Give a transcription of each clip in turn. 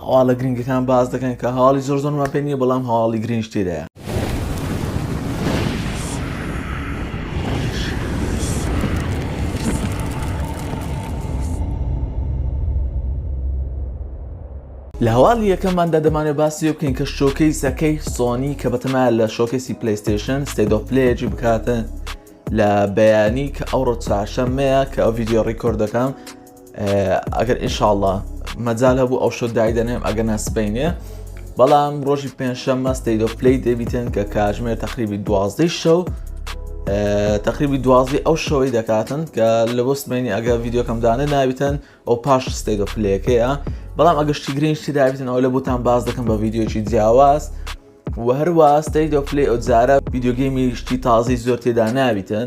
هەواڵە گرنگەکان باس دەکەن کە هەواڵی زۆر زۆرمان پێ نییە بەڵام هەواڵی گرنج تێدایە لە هەواڵی یەکەماندا دەمانێت باسی لێ بکەین کە شۆکەی سەکەی سۆنی کە بەتەمایە لە شۆکەسی پلیستیشن ستێدۆپلێجی بکاتن لە بەیانی کە ئەوڕۆ چاشەمەیە کە ئەو یددیو ڕیکۆردەکەم ئەگەر ئینشاءاللە مەجال هەبوو ئەو شەو دایدەنێم ئەگەر نا سبەینێ بەڵام ڕۆژی پێنجشەممە ستەیت ئۆف پلەی دەبیتن کە کاتژمێر تقریبی دوازدەی شەو تقریبی دوازی ئەو شەوەی دەکاتن کە لە بۆ سمێنی ئەگە ڤیددیوکەم دانێ ناویتن ئەو پاش ستەیت ئۆف پلەکەیە بەڵام ئەگەشتی گرنگشتی دابیتن ئەو لە بوتان باز دەکەم بە ڤیددیوکی جیاواز و هەروە ستەیت ئۆف پلی ئەو جارە ڤیددیوگەیمی شتی تازی زۆر تێدا ناویتن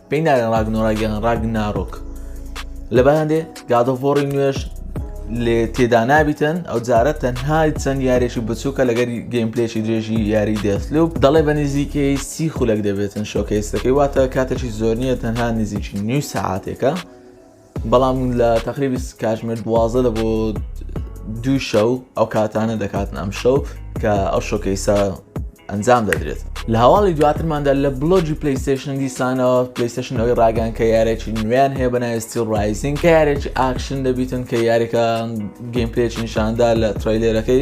پێی ناگەن ڕاگنۆراگەن ڕاگ نارۆک لەبان دێ گادۆڤۆڕی نوێش لێ تێدا نابیتن ئەو جارە تەنها چەند یاریێکی بچووکە لەگەر گەیمپلێکی درێژی یاری دەستلوب دەڵێ بە نزیکەی سی خولەک دەبێتن شۆکەیستەکەی واتە کاتێکی زۆر نییە تەنها نزیکی نیو سەعاتێکە بەڵام لە تەقریبی کاتژمێر دوازدە لە بۆ دوو شەو ئەو کاتانە دەکاتن ئەم شەو کە ئەو شۆکەیسە ئەنجام دەدرێت لە هەواڵی دواترماندا لە بلۆجی پلیستشن دیسانەوە پلیستشن ئەوی ڕاگەن کە یارێکی نوێن هەیە بەنایستی ڕایزین کە یارێکی ئاکشن دەبیتن کە یاریکە گەیمپلێکی نیشاندا لە ترۆیلێرەکەی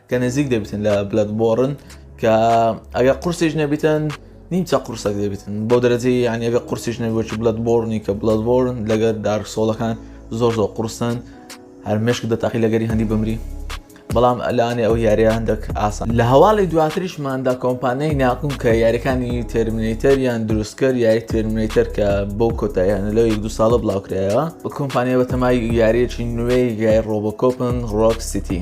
کە نزیک دەبیتن لە بلەد بۆڕن کە ئەگە قورسیش نەبیتن نیمچە قورسەک دەبیتن بۆ دەرەجەی یان ئەگە قورسیش نەبووی بلەد بۆرنی کە بلەد بۆرن لەگەر دارک سۆڵەکان زۆر زۆر قورسن هەر مشک دەتاقی لەگەری هەندی بمری بەڵام ئەلانێ ئەو یاریە هەندێک ئاسان لە هەواڵی دواتریشماندا کۆمپانیای ناکوم کە یاریەکانی ترمینیتەر یان دروستکەر یاری ترمینیتەر کە بۆ کۆتاییان لەو یەک دو ساڵە بڵاوکرایەوە بە کۆمپانیای بەتەمای یاریەکی نوێی گای ڕۆبۆکۆپن ڕۆک سیتی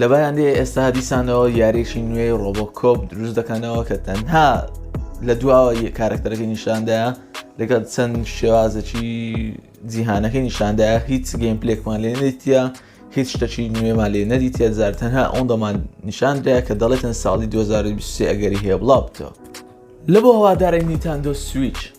لە بەرانندەی ئێستا دیسانەوە یاریشی نوێی ڕۆبۆ کۆپ دروست دەکەنەوە کە تەنها لە دواوە کارکتەرەکەی نیشاندایە لەگەڵ چەند شێوازەکی جیهانەکەی نیشاندا هیچ گەیم پلێکمان لێ نەیتە هیچ شتەکی نوێمان لێ نەدیتە زار تەنها ئەوەن دەمان نیشاندرا کە دەڵێتن ساڵی 2023 ئەگەری هەیە بڵاو بکەوە لە بۆ هەوادارە نیتاندۆ سویچ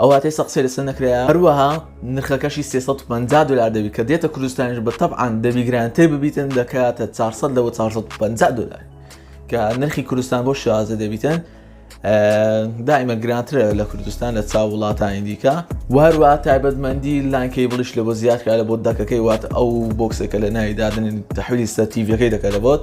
ئەو واتەی سە قسەی لەسەر نەکرایە هەروەها نرخەکەشی سێ سەد و پەنجا دۆلار دەبی کە دێتە کوردستانیش بە تەبعەن دەبی گرانتر ببیتن دەکاتە چار سەد لەوە چار سەد و پەنجا دۆلار کە نرخی کوردستان بۆ شازە دەبیتن دائیمە گرانترە لە کوردستان لە چاو وڵاتانی دیکە وهروە تایبەتمەندی لانکەی بڵیش لە بۆ زیادکە لە بۆ دەکەکەی وات ئەو بۆکسەکە لە ناوی دادن تحویلی سەر تیڤەکەی دەکە لە بۆت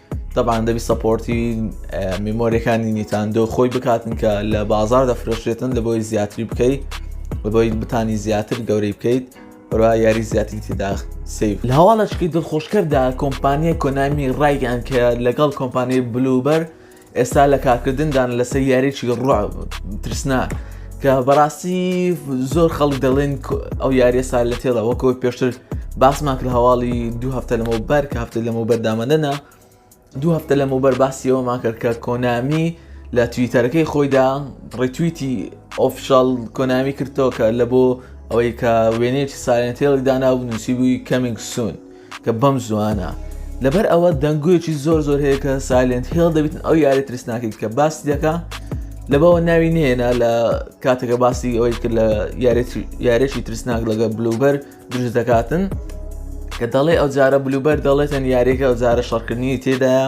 تەبان دەبی سەپۆرتی میمۆریەکانی نیتاندۆ خۆی بکاتن کە لە بازار دەفرۆشێتن لە بۆی زیاتری بکەیت بەبی بتانی زیاتر گەورەی بکەیت بەرا یاری زیاتری تێدا سیف لە هەواڵەشکی دڵخۆشکەردا کۆمپانیای کۆنامی ڕایگەیان کە لەگەڵ کۆمپانیای بلوبەر ئێستا لە کارکردندان لەسەر یاریی ڕوع ترسناک کە بەڕاستی زۆر خەڵک دەڵێن ئەو یاریە سا لە تێڵە وەکۆ پێشتر باسمان کرد هەواڵی دوو هەفتە لەمەوە بەر کە هەفتە لەمەوە بەردامەدەنا دوو هەفتە لەمەوە بەر باسیەوە ماکرد کە کۆنامی لە تویتەرەکەی خۆیدا ڕێتویتی ئۆفشال کۆنامی کردەوە کە لە بۆ ئەوەی کە وێنێکی سالێنتێڵی دانا و نووسی بووی کەمینگ سون کە بەم زوانە لەبەر ئەوە دەنگۆیەکی زۆر زۆر هەیە کە سایلنت هێڵ دەبیتن ئەو یاری ترسناکەیت کە باسی دەکە لەبەوە ناوی نێنا لە کاتێکە باسی ئەوەی کرد لە یارێکی ترسناک لەگە بلوبەر دروست دەکاتن کە دەڵێ ئەو جارە بلوبەر دەڵێتن یاریەکە ئەو جارە شەڕکردنی تێدایە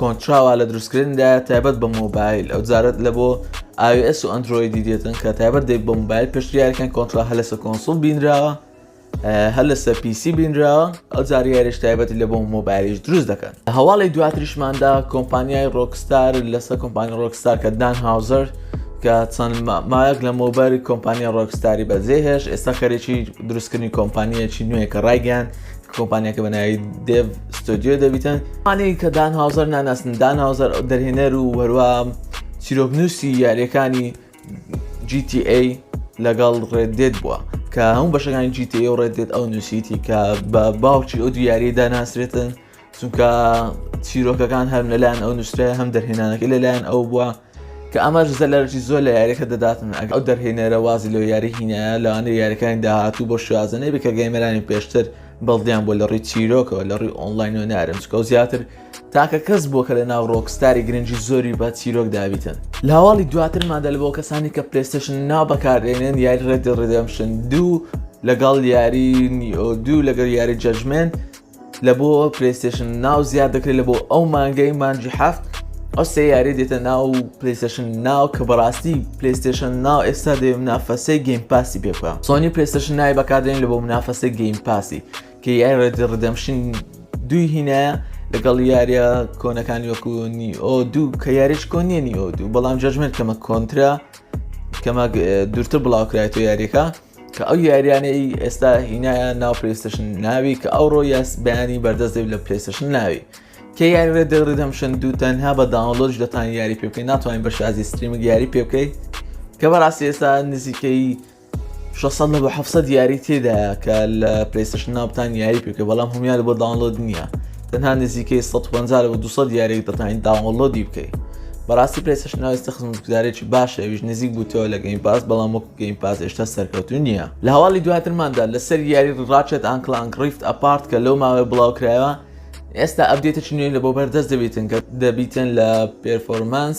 کۆنتراوا لە دروستکردندایە تایبەت بە مۆبایل ئەو جارت لە بۆ ئاوS و ئەندرۆیدی دێتن کە تایبەت دەی بۆ مۆبایل پشتیارەکان کۆنترا هە لەسە کۆنسڵ بینراوە هەر لەسەر پیسی بینراوە ئەو زاریارش تایبەتی لە بۆ مۆبایلیش دروست دەکەن هەواڵی دواتریشماندا کۆمپانیای ڕۆکستار لەسەر کۆمپانی ڕۆکستار کە دان هاوزەر کە چەند مایەک لە مۆباری کۆمپانیا ڕۆکستاری بەجێهێش ئێستا خەرێکی دروستکردنی کۆمپانیەکی نوێ کە ڕایگەیان کۆمپانیاکە بە ناوی دێڤ ستۆدیۆ دەبیتن ئەوانەی کە دان هاوزەر ناناسن دان هاوزەر دەرهێنەر و هەروە چیرۆکنووسی یاریەکانی GTA لەگەڵ ڕێدێت بووە کە هەموو بەشەکانی GTA و ڕێدێت ئەو نووسیتی کە بە باوکی ئەو دیاری داناسرێتن چونکە چیرۆکەکان هەر لەلایەن ئەو نووسرای هەم دەرهێنانەکە لەلایەن ئەو بووە کە ئەمەش زەلەرێکی زۆر لە یارییەکە دەداتن، ئەگەر ئەو دەرهێنەرە وازی لەو یارییە هینایە، لەوانەیە یارییەکانی داهاتوو بەو شێوازە نەبێت کە گەیمەرانی پێشتر بەڵدیان بووە لە ڕووی چیرۆکەوە، لە ڕووی ئۆنڵاین و نارم، چونکە ئەو زیاتر تاکە کەس بووە کە لەناو ڕۆکستاری گرنگی زۆری بە چیرۆک دابیتن. لە هەواڵی دواترماندا لە بۆ کەسانی کە پلەیستەیشن ناو بەکاردێنن، یاری ڕێد دێد ڕێدێمپشن دوو لەگەڵ یاری نیۆ دوو لەگەڵ یاری جەجمێنت، لە بۆ پلیستشن ناو زیاد دەکرێت لە بۆ ئەو مانگەی مانجی هەفت ئەو سێ یاری دێتە ناو پلیستشن ناو کە بەڕاستی پلیستشن ناو ئێستا دەێ منافەسەی گەیم پاسی پێ بکە سۆنی پلیستشن نای بەکدرێن لە بۆ منافەسەی گەیم پاسی کە یای ڕێدی ڕدەمشین دوی هینایە لەگەڵ یاریە کۆنەکانی وەکو نیئۆ دوو کە یاریش کۆ نیە نیئۆ دوو بەڵام جەژمێت کەمە کۆنترا کەمە دوورتر بڵاوکرایەوە یاریەکە کە ئەو یاریانەی ئێستا هینایە ناو پلیستشن ناوی کە ئەوڕۆ یاس بەیانی بەردەست دەبێت لە پلیستشن ناوی کە یاری ڕێ دەڕێت هەمشن دوو تەنها بە داونلۆژ دەتان یاری پێ بکەین ناتوانین بە شازی ستریمک یاری پێ بکەیت کە بەڕاستی ئێستا نزیکەی 600 لە بە 700 یاری تێدا کە لە پلیستشن ناوتان یاری پێکە بەڵام هەمیان بۆ داونلۆد نییە تەنها نزیکەی سەد و پەنجا لەوە دوو سەد یاریەک دەتوانین داونلۆدی بکەیت بەڕاستی پێسش ناوێستە خزمەتگوزارێکی باشە ئەویش نزیک بووتەوە لە گەیم باس بەڵام وەکو گەیم پاس هێشتا سەرکەوتو نییە لە هەواڵی دواترماندا لەسەر یاری ڕاچێت ئانکلانک ڕیفت ئەپارت کە لەو ماوەی بڵاوکرایەوە ئێستا ئەبدێتە چنوێن لە بۆ بەردەست دەبیتن کە دەبیتن لە پێرفۆرمانس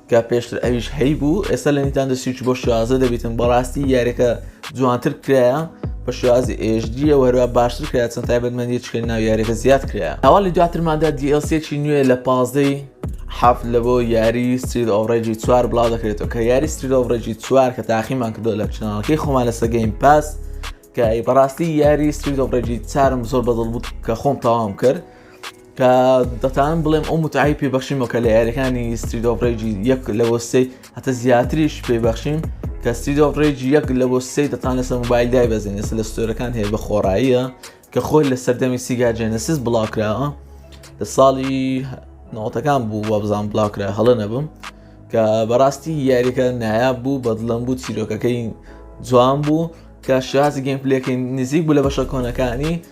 کە پێشتر ئەویش هەی بوو ئێستا لە نیتان دەسیچ بۆ شازە دەبیتن بەڕاستی یاریەکە جوانتر کرایە بە شازی ئێژدیە وەرە باشتر کرا چەند تایبەتمەندی چکەی ناو یاریەکە زیاد کرا هەواڵی دواترماندا دیسێکی نوێ لە پازدەی حەفت لە بۆ یاری ستریت ئۆڕێجی چوار بڵاو دەکرێتەوە کە یاری ستریت ئۆڕێجی چوار کە تاقیمان کردو لە چناڵەکەی خۆمان لە سەگەین پاس کە بەڕاستی یاری ستریت ئۆڕێجی چارم زۆر بەدڵ بوو کە خۆم تەواوم کرد کە دەتانم بڵێم ئەو متعای پێبەخشیمەوە کە لە یاریەکانی ستریدۆ ڕێجی یەک لەوە سێ هەتە زیاتریش پێبەخشیم کە ستریدۆ ڕێجی یەک لەوە سێ دەتان لەسەر موبایل دای بەزێن ئێستا لە ستۆرەکان هەیە بە خۆڕاییە کە خۆی لە سەردەمی سیگا جێنەسیس بڵاوکراوە لە ساڵی ناوتەکان بوو وە بزان بڵاوکرا هەڵە نەبم کە بەڕاستی یاریەکە نایاب بوو بەدڵم بوو چیرۆکەکەی جوان بوو کە شازی گەیم پلەکەی نزیک بوو لە بەشە کۆنەکانی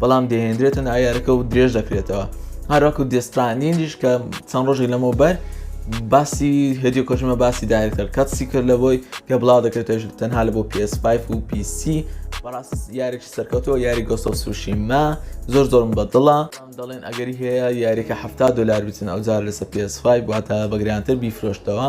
بەڵام دەهێنرێتە ناویارەکە و درێژ دەکرێتەوە هەروەکو دێسترانینیش کە چەند ڕۆژی لەمەوە بەر باسی هدیو کۆژمە باسی دایرکتەر کاتسی کرد لە بۆی کە بڵاو دەکرێتش تەنها لە بۆ PS5 و PC بەڕاست یاریش سەرکەوتەوە یاری گۆسۆ سوشیما زۆر زۆرم بە دڵە دەڵێن ئەگەری هەیە یاریکە ه دلار بچن ئەو جار لەسە PS5 واتە بەگریانتر بیفرۆشتەوە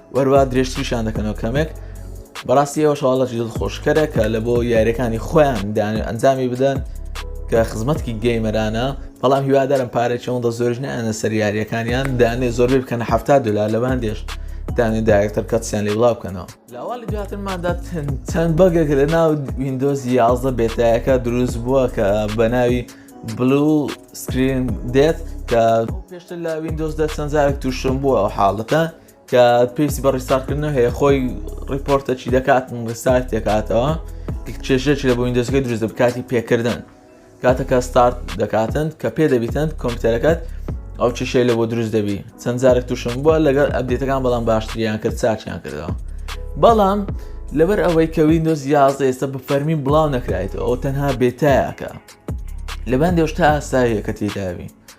وەروا درێژتریشان دەکەنەوە کەمێک بەڕاستی ئەوە شڵەکی دڵ خۆشکەرە کە لە بۆ یاریەکانی خۆیان دان ئەنجامی بدەن کە خزمەتکی گەیمەرانە بەڵام هیوادارم پارێکی ئەوەندە زۆرش نیانە سەر یاریەکانیان دانێ زۆربەی بکەنە ه دلار لە باندێش دانێ داکتەر کەسیان لێ بڵاو بکەنەوە لاوالی دواترماندا چەند بەگێک لە ناو وینندۆز یازدە بێتایەکە دروست بووە کە بە ناوی بلو سکرین دێت کە پێشتر لە وینندۆزدا چەندزارێک تووشم بووە ئەو حاڵەتە کە پێویستی بە ڕیستارتکردن هەیە خۆی ڕیپۆرتە چی دەکات ڕیستارت دەکاتەوە کێشێکی لە بۆین دەستگەی دروست بکاتی پێکردن کاتەکە ستارت دەکاتن کە پێ دەبیتن کۆمپیوتەرەکەت ئەو چشەی لە بۆ دروست دەبی چەند جارێک تووشم بووە لەگەر ئەبدێتەکان بەڵام باشتریان کرد چاچیان کردەوە بەڵام لەبەر ئەوەی کە وینندۆز یازە ئێستا بە فەرمی بڵاو نەکرایت ئەو تەنها بێتایەکە لەبان دێشتا ئاساییە کە تێداوی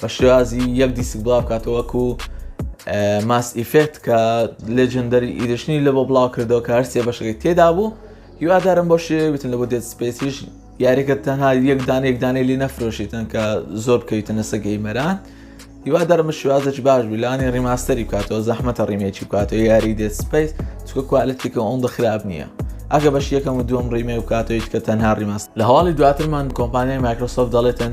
بە شێوازی یەک دیسک بڵاو بکاتەوە وەکو ماس ئیفێکت کە لێجندەری ئیدشنی لە بۆ بڵاو کردەوە کە هەرسێ بەشەکەی تێدا بوو هیوادارم بۆ شێ بتن لە بۆ دێت سپێسیش یاریەکە تەنها یەک دان یەک دانەی لی نەفرۆشیتن کە زۆر بکەویتە نەسە گەیمەران هیوادارم شوازەی باش بیلانی ڕیماستری بکاتەوە زەحمەتە ڕیمێکی بکاتەوە یاری دێت سپیس چکە کوالەتێکە ئەوم بە خراپ نییە ئەگە بەش یەکەم و دوم ڕیمێ بکاتەوەیت کە تەنها ڕیماست لە هەواڵی دواترمان کۆمپانیای مایکرۆسۆف دەڵێتن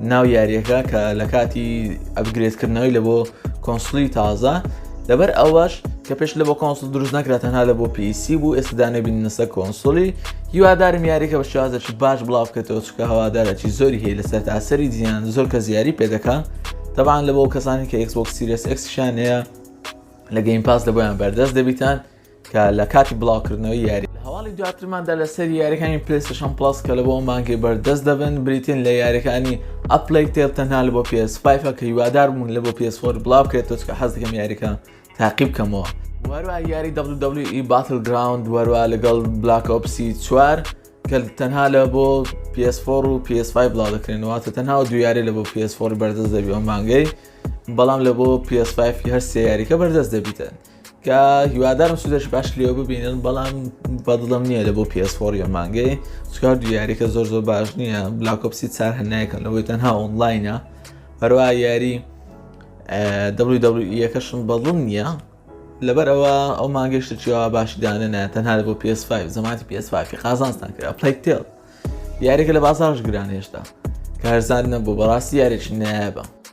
ناو یاریەکە کە لە کاتی ئەبگرێتکردنەوەی لە بۆ کۆنسلی تازە لەبەر ئەوەش کە پێش لە بۆ کۆنسل دروست نەکرا تەنها لە بۆ پیسی بوو ئێستدانێ بینەسە کۆنسۆلی هیوادارم یاریکە بە شازەکی باش بڵاو بکەێتەوە چکە هەوادارەکی زۆری هەیە لەسەر تاسەری جیان زۆر کە زیاری پێدەکە تەبان لە بۆ کەسانی کە ئەکسۆک سیرس ئەکسشانەیە لە گەیم پاس لە بۆیان بەردەست دەبیتان کە لە کاتی بڵاوکردنەوەی یاری. لە هەواڵی دواترماندا لەسەری یاریەکانی پلەیستەشەن پڵەس کە لە بۆ مانگی بەردەست دەبن بریتین لە یاریەکانی ئەپلەی تێل تەنها لە بۆ پێس فیفە کە هیوادار بوون لە بۆ پێس فۆر بڵاو بکرێتەوە چکە حەز دەکەم یاریەکە تاقی بکەمەوە وەروە یاری WWE باتل گراوند وەروە لەگەڵ بلاک ئۆپسی چوار کە تەنها لە بۆ PS4 و PS5 بڵاو دەکرێنەوە تە تەنها و دویارێ لە بۆ PS4 بەردەست دەبی ئەو مانگەی بەڵام لە بۆ PS5 هەر سێ یاریکە بەردەست دەبیتن کە هیوادارم سوودەش باش لێو ببینن بەڵام بەدڵم نییە لە بۆ پێسپۆری مانگەی چکار دو یاریکە زۆر زۆر باش نییە بلاکۆپسی چار هەنایەکەم لەوەی تەنها ئۆنلاینە هەروە یاری یەکەشم بەدڵم نییە لەبەر ئەوە ئەو مانگەشتە چیەوە باشی دانێنە تەنها لە بۆ PS5 زمانی PS5 قازانستان کرا پلەیتێڵ یاریکە لە بازارش گران هێشتا کارزانە بۆ بەڕاستی یارێکی نایابە